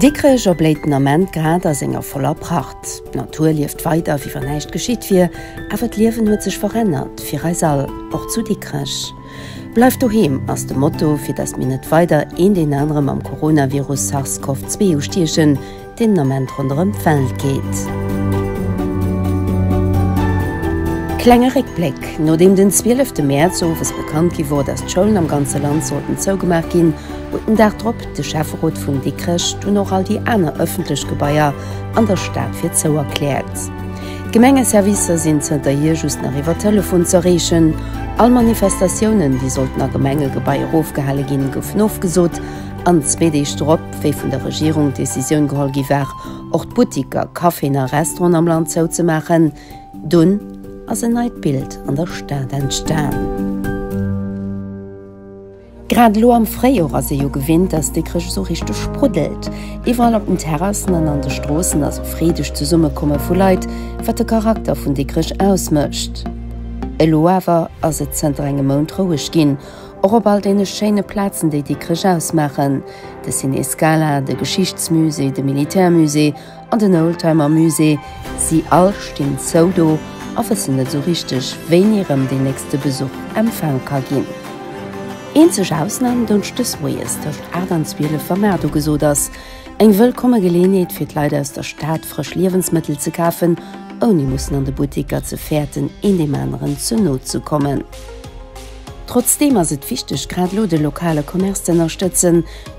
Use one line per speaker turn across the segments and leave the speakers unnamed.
Dikrech erbléit den Ament grad a senger voller Pracht. D'Natur lieft weider, wéi wann näischt geschitt wier. Awer d'Liewen huet sech verännert, fir eis all, och zu Dikrech. Bleif doheem ass de Motto, fir datt mir net weider eent een anere mam Coronavirus Sars-Cov 2 ustiechen. deen den Ament ronderëm d'Welt geet. Klenge Réckbléck, Nodeem den 12 Mäerz owes bekannt gi wor, datt d'Schoulen am ganze Land sollten zougemaach ginn, huet den Dag drop de Schäfferot vun Dikrech dunn och all déi aner ëffentlech Gebaier an der Stad fir zou erkläert. D'Gemengeservicer sinn zënterhier just nach iwwer Telefon ze erreechen. All Manifestatiounen, déi sollten a Gemengegebaier ofgehale ginn, goufen ofgesot an zwee Deeg drop, wéi vun der Regierung d'Decisioun geholl gi war, och d'Buttiker, Caféen a Restauranten am Land zouzemaachen, dunn ass en neit Bild an der Stad entstan. Grad elo am Fréijor ass ee jo gewinnt, dass Dikrech esou richteg spruddelt. Iwwerall op den Terrassen an an de Stroossen ass e freedegt Zesummekomme vu Leit, wat de Charakter vun Dikrech ausmécht. Elo awer ass et zënter engem Mount roueg ginn. Och op all deene schéine Plazen, déi Dikrech ausmaachen, de Ciné Scala, de Geschichtsmusée, de Militärmusée an den Oldtimermusée, si all stinn zou do a wëssen net esou richteg, wéini rëm deen nächste Besuch empfaang ka ginn. Eenzeg Ausnam, Donschdes moies tëscht 8 an 12, wa Maart ugesot ass. Eng wëllkomme Geleeënheet fir d'Leit aus der Stad, frësch Liewensmëttel ze kafen, ouni mussen an de Butteker ze fäerten, een deem aneren ze no ze kommen. Trotzdeem ass et wichteg, grad elo de lokale Commerce ze ënnerstëtzen.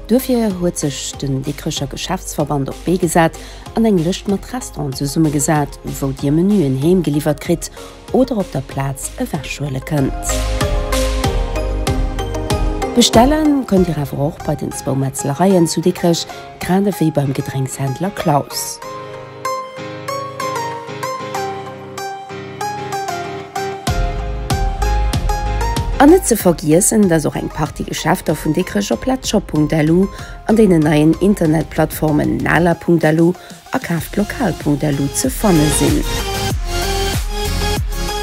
Duerfir huet sech den Dikrecher Geschäftsverband op d'Bee gesat an eng Lëscht mat Restauranten zesummegesat, wou Dir Menuen heem geliwwert kritt oder op der Plaz ewech huele kënnt. Bestelle kënnt Dir awer och bei den zwou Metzlereien zu Dikrech, grad ewéi beim Gedrénkshändler Klaus. An net ze vergiessen, dass och eng Partie Geschäfter vun Dikrech op Letshop.lu an deenen neien Internetplattformen Nala.lu a KaaftLokal.lu ze fanne sinn.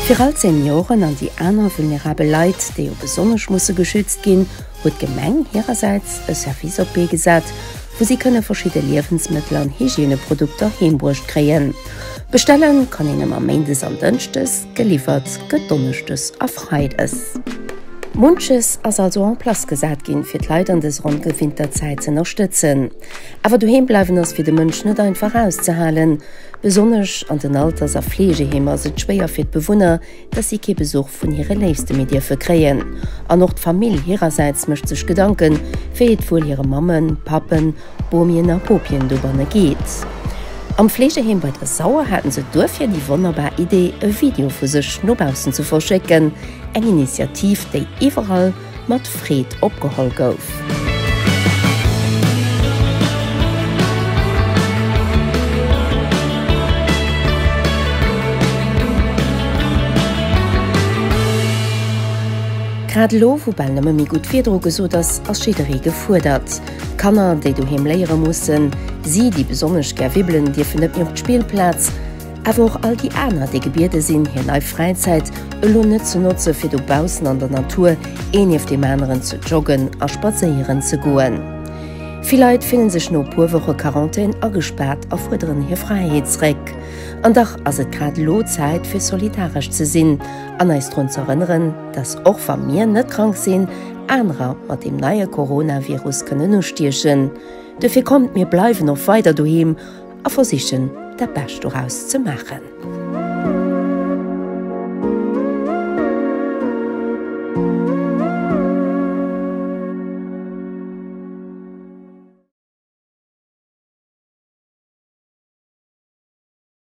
Fir all d'Senioren an déi aner vulnerabel Leit, déi jo besonnesch musse geschützt ginn, huet d'Gemeng hirersäits e Service op d'Bee gesat, wou si kënne verschidde Liewensmëttel an Hygieneprodukter heembruecht kréien. Bestelle kann een ëmmer méindes an dënschdes, geliwwert gëtt donneschdes a freides. Munches ass also en place gesat ginn, fir d'Leit an dëser ongewinnter Zäit z'ënnerstëtzen. Awer doheem bleiwen ass fir de Mënsch net einfach auszehalen. Besonnesch an den Alters a Fleegeheemer ass et schwéier fir d'Bewunner, dass si kee Besuch vun hire Léifste méi dierfe kréien an och d'Famill hirersäits mécht sech Gedanken, wéi et wuel hire Mammen, Pappen, Bomien a Bopien dobanne geet. Am Fleegeheem bei Dressauer haten se duerfir déi wonnerbar Idee, e Video vu sech no baussen ze verschécken, eng Initiativ, déi iwwerall mat Freed opgeholl gouf. Grad elo, wou bal nëmme méi gutt Wieder ugesot ass, ass jidderee gefuerdert. Kanner, déi doheem léiere mussen, si, déi besonnesch gär wibbelen, dierfen net méi op d'Spillplaz. awer och all déi aner, déi gebiede sinn, hir leif Fräizäit elo net ze notze fir dobaussen an der Natur een nieft deem aneren ze joggen a spadséieren ze goen. Vill Leit fille sech no e puer Woche Quarantän agespaart a fuerderen hir Fräiheet zréck. An dach ass et grad elo Zäit fir solidaresch ze sinn an eis drun ze erënneren, dass och wa mir net krank sinn, anerer mat deem neie Coronavirus kënnen ustiechen. Dofir kommt mir bleiwen och weider doheem. a versichen dat Bescht doraus ze maachen.